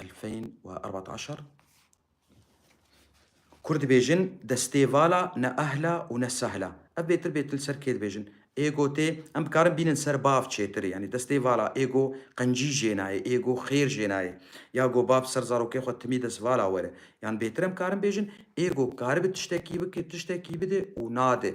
2014 Kur dibêjin destê vala ne ehla û ne sehla. Ev bêtir bêtir li ser kê dibêjin? Êgo tê, em dikarin bînin ser bav çêtir yanî destê vala êgo qencî jê nayê, êgo xêr jê nayê ya go bav ser zarokê xwe timî dest vala were. Yan bêtir em karin bêjin êgo karibe tiştekî bike, tiştekî bide û nade.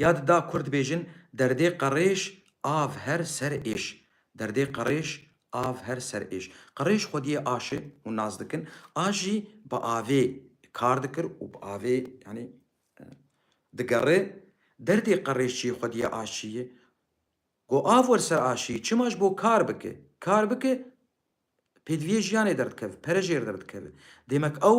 Ya dida kur dibêjin Derdê qerêj av her ser êş Derdê qerêj av her ser êş Qerêj xwediyê aşi û nas dikin A jî bi avê kar dikir û bi avê yanî digerê Derdê qerêj çiyê xwediyê aş çiyê Go av wer ser aşiyê çima ji bo kar bike Kar bike pêdiviyê jiyanê derdikeve pere jêr derdikeve Dêmek ew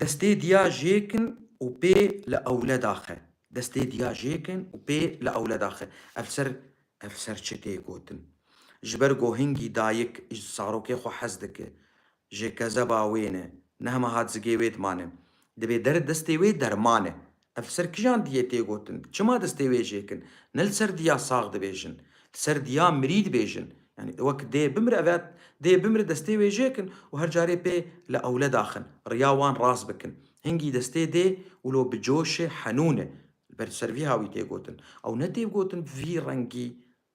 Destê diya jêkin û pê li ewle daxe. Destê diya jêkin û pê li ewle daxe. Ev ser ev ser çi tê gotin? Ji ber ku hingî dayik ji zarokê xwe hez dike, ji kezeba wê ne, nehma hat zigê wê dimane. Divê der destê wê derman e. Ev li ser kijan diyê tê gotin? Çima destê wê jê kin? Ne li ser diya sax dibêjin. Li ser diya mirî dibêjin. Yanî wek dê bimire ev e dê bimire destê wê jê kin û her carê pê li ewled axin. Riya wan rast bikin. Hingî destê dê û lo bi coşê henûn e. Li ber ser vîha wî tê gotin. Ew ne tê gotin bi vî rengî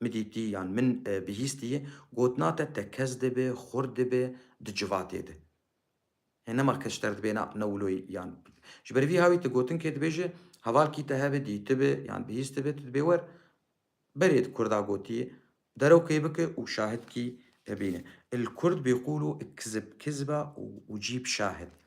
Mi dîtî yan min bihîstî gotina te te kes dibe, xurt dibe di civatê de. Hê nema kes ji te re dibêna newloyî yan. Ji ber vî hawî tu gotinkê dibêje heval kî te hebe dîtibe yan bihîstibe tu dibê wer berê di kurda gotiyê derewkê bike û şahid kî hebîne. El kurd bîqûl û kizib kizba û cîb şahid.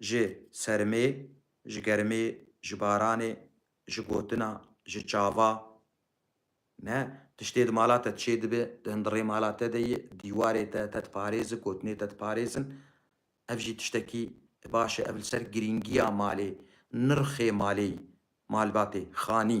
Ji sermê, ji germê, ji baranê, ji gotina, ji çava ne, tiştê di mala te çê dibe, di hindirê mala te de yê, dîwarê te, te diparêzi, gotinê te diparêzin. Ev jî tiştekî baş e. Ev li ser girîngiya malê, nirxê malê yî, malbatê, xanî.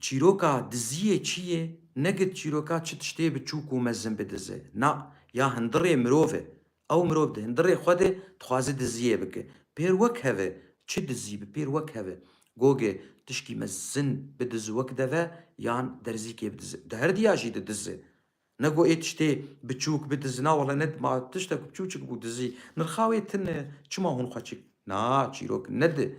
Çîroka diziyê çi yê? Ne gid çîroka çi tiştê bi çûk û mezin bidize. Na, ya hindirê mirov e. Ew mirov di hindirê xwe de dixwaze diziyê bike. Pêr wek hev e. Çi dizî bi pêr wek hev e. Gogê tişkî mezin bidize wek deve yan derzîkê bidize. Di her diya jî didize. Ne got ê tiştê bi çûk bidize. Na wele ne ma tişte ku bi çûçik bû dizî. Nirxa wê tune. Çima hûn xwe çi. Na, çîrok ne di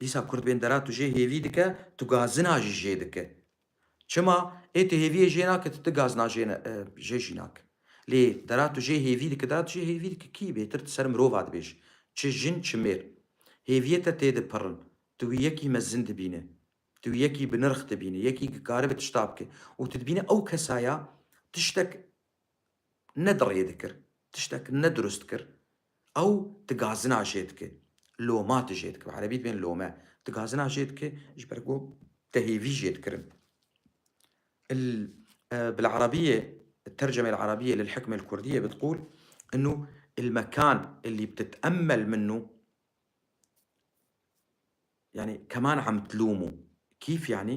Dîsa kurd bên dera tu jê hêvî dike, tu gazina jî jê dike. Çima? Ê tu hêviyê jê nake tu ti gazina jê jê jî nake. Lê dera tu jê hêvî dike dera tu jê hêvî dike kî bêtir tu ser mirova dibêj. Çi jin çi mêr. Hêviyê te tê de pirin. Tu wî yekî mezin dibîne. Tu wî yekî bi nirx dibîne. Yekî ki karibe tişta bike. Û tu dibîne ew kesa ya tiştek ne di rê dikir, tiştek ne durust kir, ew di gazina jê dike, loma di jê dike, bi erebî dibên lome, di gazina jê dike ji ber ku te hêvî jê dikirin. Il bil erebîyê tercemê li erebîyê lil hikmê li kurdîyê bi tiqûl inû il mekan elî btite'emmel minû yanî keman em tilûmû kîf yanî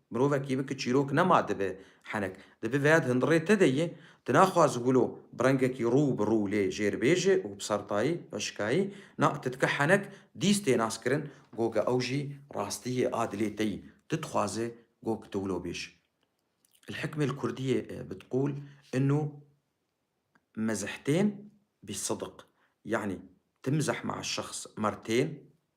Mirovekî bi ku çîrok nema dibe henek. Di bi veyad hundirê te de ye. Tu naxwaz wilo bi rengekî rû bi rû lê jêrbêjê û bi sertayî, hişkayî, na, tu dike henek dîst tê naskirin goge ew jî rastî ye a dilê te yî. Tu dixwaze gog tu wilo bêj. El hikmê li kurdîyê e bitqûl inû mezihtên bî sidiq. Yanî tu mizeh ma şexs mertên.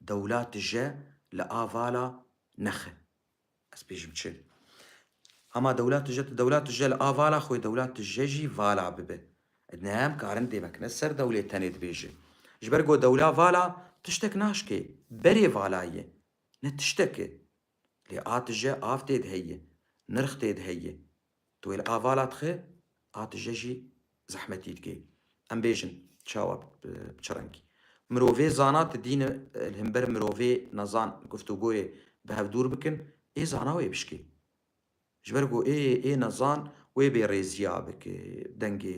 Dewla tije li avala nexe. Ez pê jî bi çi. Hema dewla tije tu dewla tije li avala xwe dewla tije jî vala bibe. Ed ne em karin dê vekine ser dewlê tenê dibêje. Ji ber ku dewla vala tiştek naşkê. Berê vala ye. Ne tiştek e. Lê a tije av tê de heye. Nirx tê de heye. Tu wê li avala dixe a tije jî zehmetî dike. Em bêjin çawa bi çi rengî. Mirovê zana tu dîn li himber mirovê nezan guftugoyê bi hev dûr bikin, ê zana wê bişkê. Ji ber ku ê ê nezan wê bêrêziya bike dengê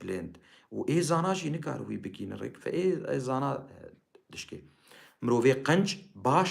bilind û ê zana jî nikare wî bigîne rêk. Fe ê zana dişke. Mirovê qenc baş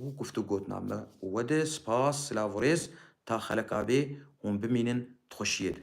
û guft û gotinan me û we de spas silav û rêz ta xelek a bê hûn bimînin di xweşiyê de.